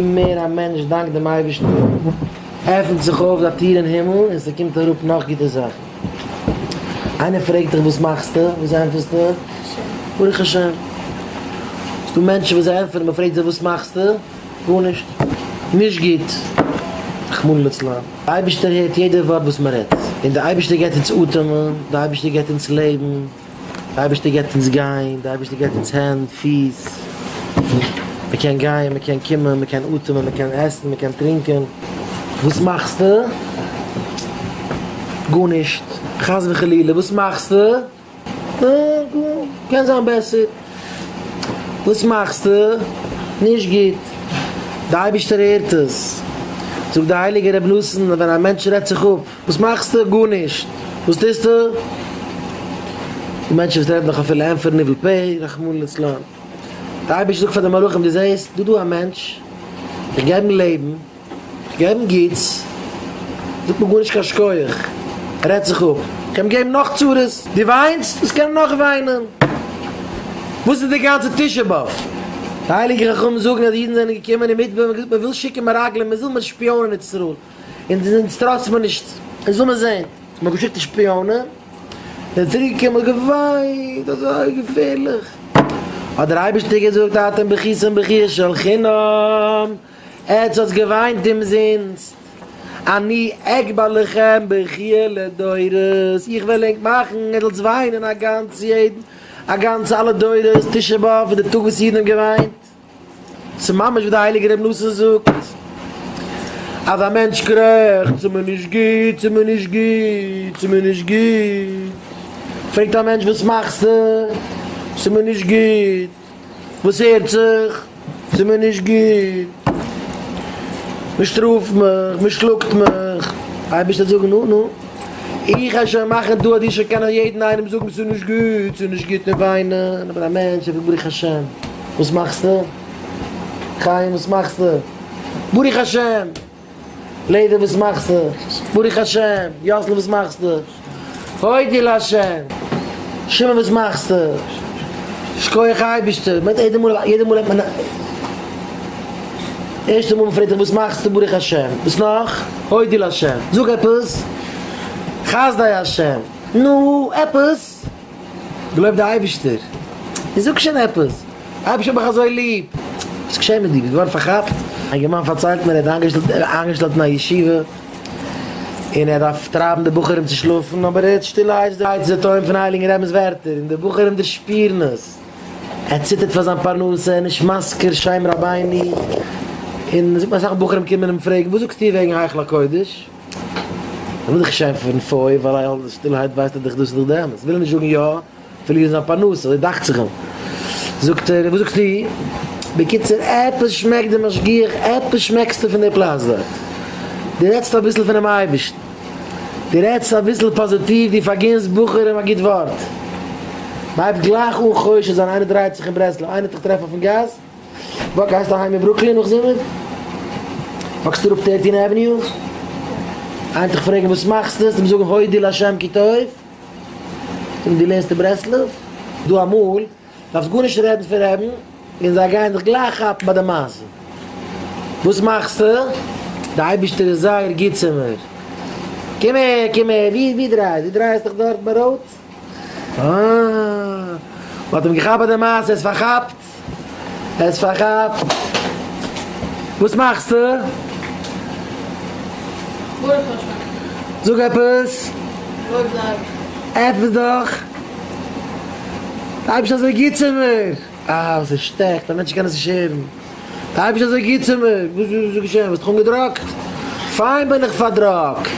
מער א מענטש דאנקט דעם אייבערשטן, עפנט זיך אויף א טיר אין הימל און ס'קומט אראפ נאך גוטע זאכן. איינער פרעגט דיך וואס מאכסטו? וואס ענטפערסטו? ברוך השם. ס'דא מענטשן וואס זיי ענטפערן, מ'פרעגט זיי וואס מאכסטו? גארנישט. נישט גוט. רחמנא לצלן. די אייבערשטער הערט יעדע ווארט וואס מ'רעדט. און די אייבערשטער געבט אונז אטעמען, די אייבערשטער געבט אונז לעבן. די אייבערשטער געבט אונז גיין, די אייבערשטער געבט אונז הענט, פיס, מען קען גיין, מען קען קומען, מען קען אטעמען, מען קען עסן, מען קען טרינקען. וואס מאכסטו? גארנישט, חס וחלילה, וואס מאכסטו? קען זיין בעסער. וואס מאכסטו? נישט גוט. די אייבערשטער הערט עס. זאגט די הייליגע רבי נתן אז ווען א מענטש רעדט זיך אפ. וואס מאכסטו? גארנישט. וואס טוסטו? די מענטשן וואס רעדן דאך אפילו ענפערן ניבול פה, רחמנא ליצלן. דער אייבערשטער זאגט פאר די מלאכים, דו זעסט דא דא א מענטש, איך געב אים לעבן, איך געב אים גוטס, זאגט מיר גארנישט קיין שכוח, ער רעדט זיך אפ, איך קען אים געבן נאך צרות. דו וויינסט? וואס קען ער נאך וויינען? וואס איז די גאנצע תשעה באב? די הייליגע חכמים זאגן אז די אידן זענען געקומען אין מדבר און געזאגט, מען וויל שיקן מרגלים, מען זיל מיר שפיאנען איצטערל. און די זענטס טראסט מיר נישט, און זאל מען זעהן, מ'האט געשיקט די שפיאנען, און צוריקגעקומען געוויינט אזוי געפערליך, האט דער אייבערשטער געזאגט אתם בכיתם בכי של חינם, עטס האטס געוויינט אומזינסט, אני אגבה לכם בכי' לדורות, איך וועל ענק מאכן ער זאלטס וויינען א גאנץ יעדן א גאנץ אלע דורות, תשעה באב איז די טאג וואס אידן האבן געוויינט. ס'איז ממש ווי דער הייליגער רבי נסים זאגט, אז א מענטש קרעכצט צו מ'איז נישט גוט, צו מ'איז נישט גוט, צו מ'איז נישט גוט, פרעגט א מענטש וואס מאכסטו? צו מ'איז נישט גוט, וואס הערט זיך? צו מ'איז נישט גוט, מ'שטראפט מיך, מ'שלאגט מיך, אייבערשטער זאג נו נו. איך העל שוין מאכן דא אז דו זאלסט קענען יעדן איינעם זאגן ס'איז נישט גוט, ס'איז נישט גוט און וויינען, איך בין א מענטש איך בין ברוך השם, וואס מאכסטו? חיים וואס מאכסטו? ברוך השם! לעדער וואס מאכסטו? ברוך השם! יאסל וואס מאכסטו? הודי' להשם! שמעון וואס מאכסטו? שכוח אייבערשטער! מ'רעדט יעדע מאל, יעדע מאל רעדט מען, ערשטע מאל מ'פרעגט דיך וואס מאכסטו? ברוך השם! וואס נאך? הודי לשם, זאג עפעס, חסדי השם, נו, עפעס, געלויבט די אייבישטער, נו, זאג שוין עפעס, אייבישטער איך האב דיך אזוי ליב, וואס איז געשען מיט דיר, ביסט געווארן פארכאפט? א יונגערמאן פארציילט מיר, ער האט איינגעשטעלט אין א ישיבה, און ער דארף טרייבן די בחורים צו שלאפן, אבער ער הערט שטילערהייט די טוין פון הייליגן רבינ'ס ווערטער, און די בחורים דערשפירן עס. ער ציטערט פאר זיין פרנסה, ער איז נישט מזכיר שם רבינו, און מ'זאגט מיר אסאך בחורים קומען אים פרעגן וואס זאגסטו וועגן היכל הקודש? איך וויל דיך נישט שעמפען פוי ווייל אייל די שטילהייט ווייזט דאך דאס איז דאך די אמת, וויל ער נישט זאגן יא, פארלירן זיין פרנסה, אזוי דאכט זיך אים, זאגט ער וואס זאגסטו? בקיצור עפעס שמעקט די משגיח, עפעס שמעקסטו פון די פלאץ דארט, די רעדסט אביסל פונעם אייבערשטן. דו רעדסט אביסל פאזיטיוו, דו פארגינס בחורים א גוט ווארט. מ'הייבט גלייך אן חושד זיין, איינער דרייעט זיך אין ברסלב, איינער האט דיך געטראפן אויפן גאס, וואו גייסטו אהיים אין ברוקלין נאך זומער? וואקסטו אראפ טערטין עוועניו? איינער האט דיך פרעגן וואס מאכסטו? האסטו אים זאגן הודי' לה' כי טוב, זאגן דו לערנסט אין ברסלב? דא אמאל. דארפסט גארנישט רעדן פון רעדן, און זיי גייען דיך גלייך כאפן ביי די מעשה. וואס מאכסטו? די אייבישטער איז זייער גוט צו מיר. קום אהער, קום אהער, ווי ווי דרייעסט? דו דרייעסט דיך דארט ביי רוט? אה. מ'האט אים געכאפט ביי די מעשה, ער איז פארכאפט, ער איז פארכאפט. וואס מאכסטו? גארנישט מיין שכן. זאג עפעס. לויב זיי. עפעס דאך. זיי ביסט אזוי גוט צו מיר! אה, ס'איז שטעכט, א מענטש קען עס נישט הערן. זיי ביסט אזוי גוט צו מיר! וואס איז געשען? האסט דיך אנגעדראגט? פיין בין איך פארדראגט!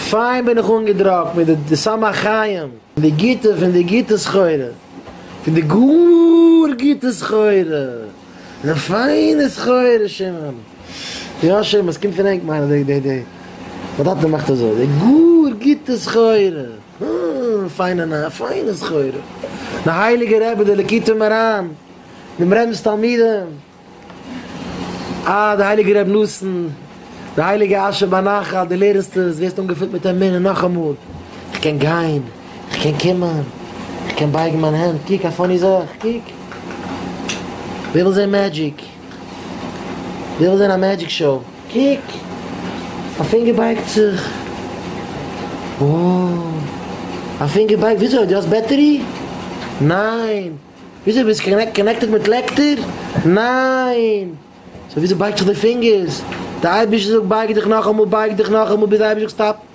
פיין בין איך אנגעדראגט מיט די סם החיים, די גוטע פון די גוטע סחורה, פון די גאר גוטע סחורה, די פיינע סחורה, שמעון. יא, שמעון, ס'קומט פון ענק מיינע די, די, די, די טאטע מאכט אזוי, די גאר גוטע סחורה. אההה פיינע נייע פיינע סחורה. די הייליגע רבי די ליקוטי מרן דעם רמבם'ס תלמידים אה די הייליגע רבי נתן די הייליגע אשר בנחל די לערנסט עס ווערסט אנגעפילט מיט אמונה נאכאמאל איך קען גיין איך קען קומען איך קען בייגן מיין הענט קוק א פאני זאך קוק ווער וויל זען מעדזשיק. וויל זען א מעדזשיק שאו. קוק! א פינגער בייגט זיך! וואו! א פינגער בייגט וויאזוי? דו האסט בעטערי? ניין! וויאזוי ביסט קאנעקטעד מיט לעקטער? ניין! סאו וויאזוי בייגט זיך די פינגערס? די אייבישטער זאגט בייג דיך נאכאמאל בייג דיך נאכאמאל ביז די אייבישטער זאגט סטאפ!